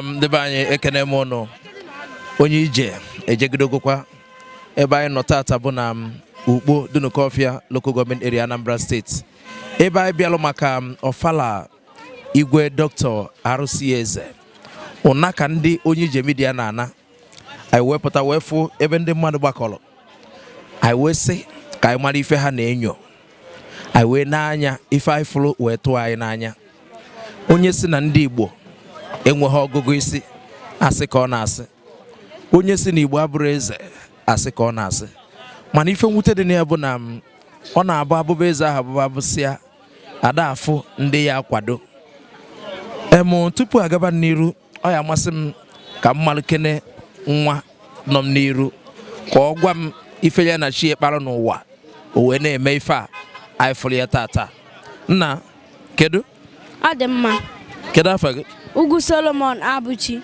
ndị be anyị ekenee m ụnụ onye ije ejegidogokwa ebe anyị nọ tata bụ na Ukpo Dunukọfịa local government area Anambra State ebe anyị bịalụ maka ọfala igwe dọkịta R.C. Eze ụna ka ndị onye ije media na-ana anyị wee pụta wee fụ ebe ndị mmadụ gbakọrọ anyị wee sị ka anyị mara ife ha na-enyo anyị wee nee anya ife anyị fụrụ wee tụọ anyị n'anya onye sị na ndị Igbo enweghị ọgụgụ isi asị ka ọ na-asị onye sị na Igbo abụrọ eze asị ka ọ na-asị mana ife mwute dị na ya bụ na mm, ọ na-abụ a bụba eze ahụ abụba a bụsịa a da-afụ ndị ya-akwado em tupu a gaba n'iru ọ ya-amasị m ka m malụkene nwa nọ m n'iru ka ọ gwa m ife ya na chi ya kpara n'ụwa o wee na-eme ife a anyị fụrụ ya tata nna kedu ọ dị mma kedu afa gị Ugwu Solomon Abụchi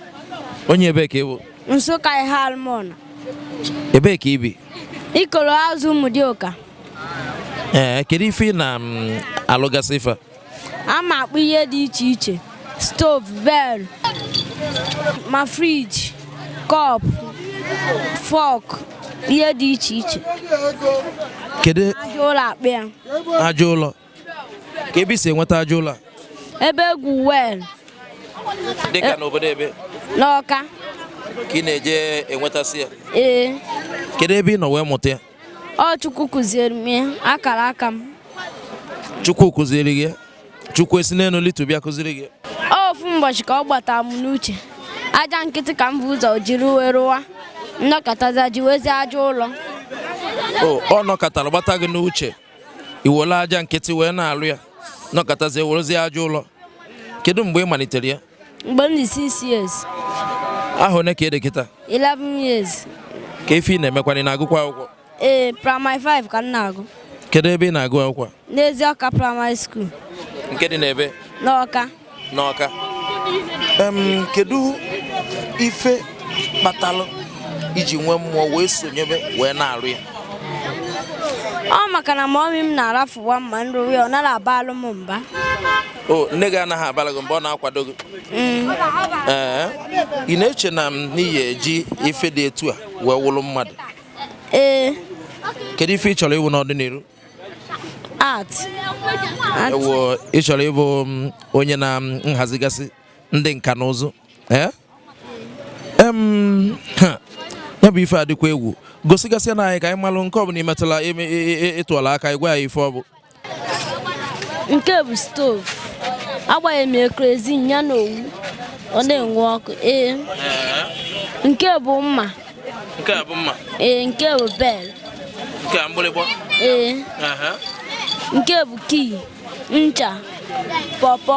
onye ebee ka ị bụ Nsụka Eha-Alumona ebee ka i bi ikoro azụ Ụmụdịọka ee kedu ife ị na-alụgasị ife ama m akpụ ihe dị iche iche stove bell ma fridge cup fork ihe dị iche iche kedu aja ụlọ akpụ ya aja ụlọ kee ebe i si enweta aja ụlọ ebe e gwu well dịka n'obodo ebe n'Ọka ka ị na-eje enwetasị ya ee kedu ebe ị nọ wee mụta ya ọ chukwu kụziere m ya akara aka m chukwu kụziri gị chukwu esi n'elu lịtuo bịa kụziri gị ofu ụbọchị ka ọ gbata m n'uche aja nkịtị ka m bu ụzọ jiri wee rụwa m nọkatazie jiwezie aja ụlọ ọ nọkatara gbata gị n'uche i were aja nkịtị wee na-alụ ya nọkatazie werezie aja ụlọ kedu mgbe ị malitere ya mgbe m dị 6 years ahọ one ka ị dị kịta 11 years kee ife ị na-emekwana ị na-agụkwa akwụkwọ ee primary 5 ka m na-agụ kedu ebe ị na-agụ akwụkwọ a? n'Ezi Ọka Primary School nke dị n'ebee n'Ọka n'Ọka Em, kedu ife kpatalụ i ji nwee mmụọ wee sonyebe wee na-arụ ya ọ maka na mummy m na-arafụwa m ma m rụwa ya ọ nara abalụ m mba o nne gị anaghị abara gị mba ọ na-akwado gị mm. ee ị na-eche na ị ya-eji ife dị etu a wee wụrụ mmadụ ee kedu ife ị chọrọ ịwụ n'ọdịnihu art ewu ị chọrọ ịbụ mm, onye na mm, nhazigasị ndị nka na ụzụ ee ya bụ ife a dịkwa egwu gosigasịanụ anyị ka anyị malụ nke ọ bụla i metụlụ ị tụọlụ aka ị gwa anyị ife ọ bụ nke bụ stovu agbanye m ya kerozin ya na owu ọ na-enwu ọkụ ee nke bụ mma nke a bụ mma ee nke bụ bel nke a mgbịrịgba ee nke bụ kii ncha pọpọ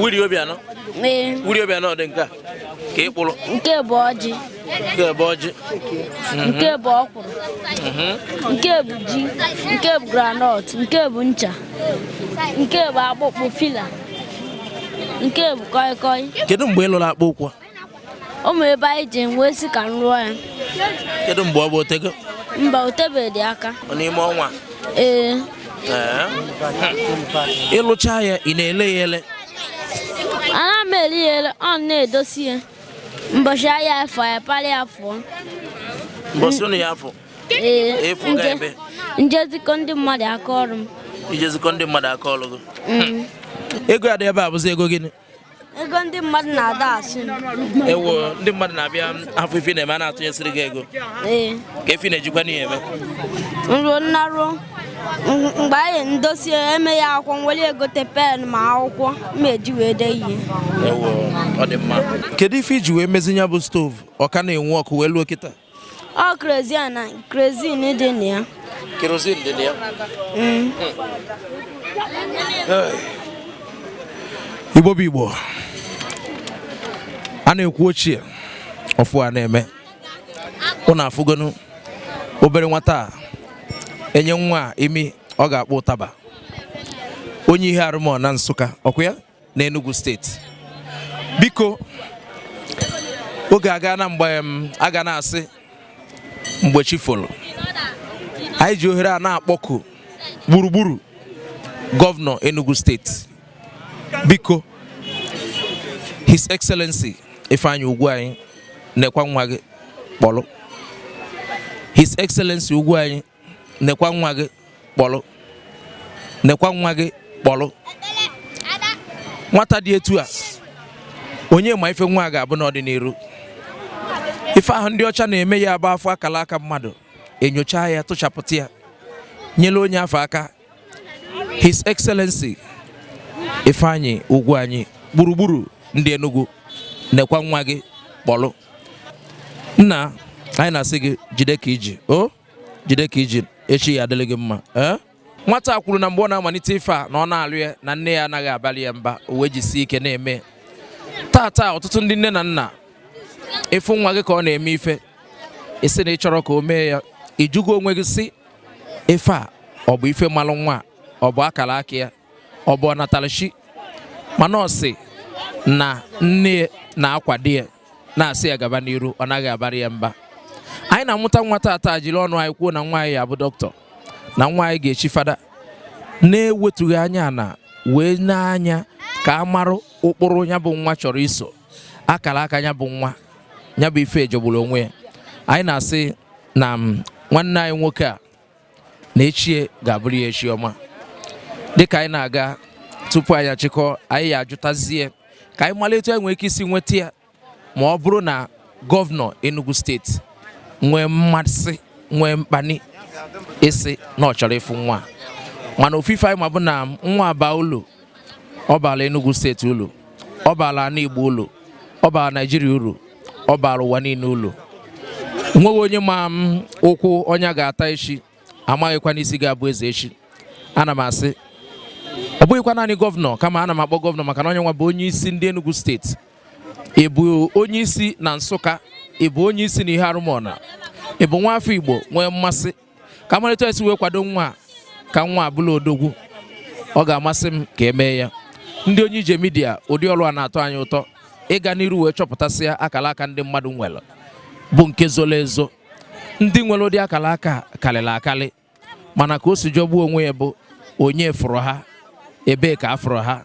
Willie Obianọ Willie Obianọ dị nke a ka ị kpụrụ nke bụ ọjị nke bụ ọjị mhm. nke bụ ọkwụrụ mhm. nke bụ ji nke bụ granọt nke bụ ncha nke bụ akpụkpụ fila nke bụ kọị kọị kedu mgbe ị lụrụ akpụkpọ ụkwụ o nwere ebe anyị ji nwee si ka m rụọ ya kedu mgbe ọ bụ otego mba otebedị aka n'ime ọnwa ee ịlụcha ya ị na-ele ya ele ana m ele ya ele ọ na-edosi ya mbọchị ahịa afọ ya parị ya fụọ mbọsị ụnụ ya afọ ee Efu ga ebe. nje zikọ ndị mmadụ aka ọrụ m ijezikọ ndị mmadụ aka ọlụ gị ego adị ebe a bụzi ego gịnị ego ndị mmadụ na-ada asị ewo ndị mmadụ na-abịa afụ ife ị na-eme a na-atụnyesịrị gị ego ee ka efi na-ejikwa n'ihe eme nruo nnaruo mgbe anyị ndosi emeghe akwụkwọ nwere egote pen ma akwụkwọ m ga-eji wee dee ihe ewo ọ dị mma kedu ife i ji wee mezie nya bụ stovu ọ ka na-enwu ọkụ wee luo kịta ọ kerozin na kerozin dị na ya kerozin dị na ya mm. igbo bụ igbo a na-ekwu ochie ọfụụ a na-eme ụnụ afụgonu obere nwata a enye nwa imi ọ ga-akpọ ụtaba onye Eha Alụmọna Nsụka ọkụ ya n'Enugu steeti biko oge aga na mgbe m aga na-asị mgbe chi folo anyị ji ohere a na-akpọku gburugburu gọvanọ Enugu steeti biko His Excellency Ifeanyi Ugwuanyi nekwa nwa gị kpọlụ His Excellency Ugwuanyi nekwa nwa gị kpọlụ nekwa nwa gị kpọlụ nwata dị etu a onye ma ife nwa a ga-abụ n'ọdịniru ife ahụ ndị ọcha na-eme ya bụ afụ akala aka mmadụ enyocha ya tụchapụta ya nyere onye afụ aka His Excellency Ifeanyi Ugwuanyi gburugburu ndị Enugu nekwa nwa gị kpọlụ nna anyị na-asị gị jide ka i ji o jide ka i ji echi ya-adịrị gị mma ee nwata kwuru na mgbe ọ na-amalite ife a na ọ na-alụ ya na nne ya anaghị abalụ ya mba o wee jisie ike na-eme taata ọtụtụ ndị nne na nna ị fụ nwa gị ka ọ na-eme ife ị sị na ị chọrọ ka o mee ya ị jụgo onwe gị sị ife a ọ bụ ife malụ nwa ọ bụ akara aka ya ọ bụ ọnatarachi mana ọ sị na nne na-akwado ya na-asị ya gaba n'iru ọ naghị abara ya mba anyị na-amụta nwa taata jiri ọnụ anyị kwuo na nwa anyị ya-abụ dọkịta na nwa anyị ga-echi fada na-ewetughị anya ana wee nee anya ka a marụ ụkpụrụ ya bụ nwa chọrọ iso akara aka ya bụ nwa ya bụ ife jọgburu onwe ya anyị na-asị na mm, nwanne anyị nwoke a na echi ya ga-abụrụ ya echi ọma dịka anyị na-aga tupu anyị achịkọ anyị ya-ajụtazie ka anyị mara etu anyị nwere ike isi nweta ya ma ọ bụrụ na gọvanọ Enugu steeti nwee mmasị nwee mkpani ịsị na ọ chọrọ ịfụ nwa mana ofu ife anyị ma bụ na nwa baa ulu ọ baala Enugu steeti ulu ọ baala ana Igbo ulu ọ baala Naijiria uru ọ baala ụwa niile ulu nweghị onye ma ụkwụ onye ga-ata echi amaghịkwanụ isi ga-abụ eze echi ana m asị ọ bụghịkwa naanị gọvanọ kama ana m akpọ gọvanọ maka na ọ nya nwa bụ onye isi ndị Enugu steeti ị bụ onye isi na Nsụka ị bụ onye isi na Eha Alumona ị bụ nwa afọ Igbo nwee mmasị ka a mara etu anyị si wee kwado nwa ka nwa a bụlụ odogwu ọ ga-amasị m ka e mee ya ndị onye ije media ụdị ọrụ a na-atọ anyị ụtọ ịga n'iru wee chọpụtasịa akara aka ndị mmadụ nwere bụ nke zoro ezo ndị nwere ụdị akara aka karịrị akarị mana ka o si jọgbuo onwe ya bụ onye fụrụ ha ebee ka a fụrụ ha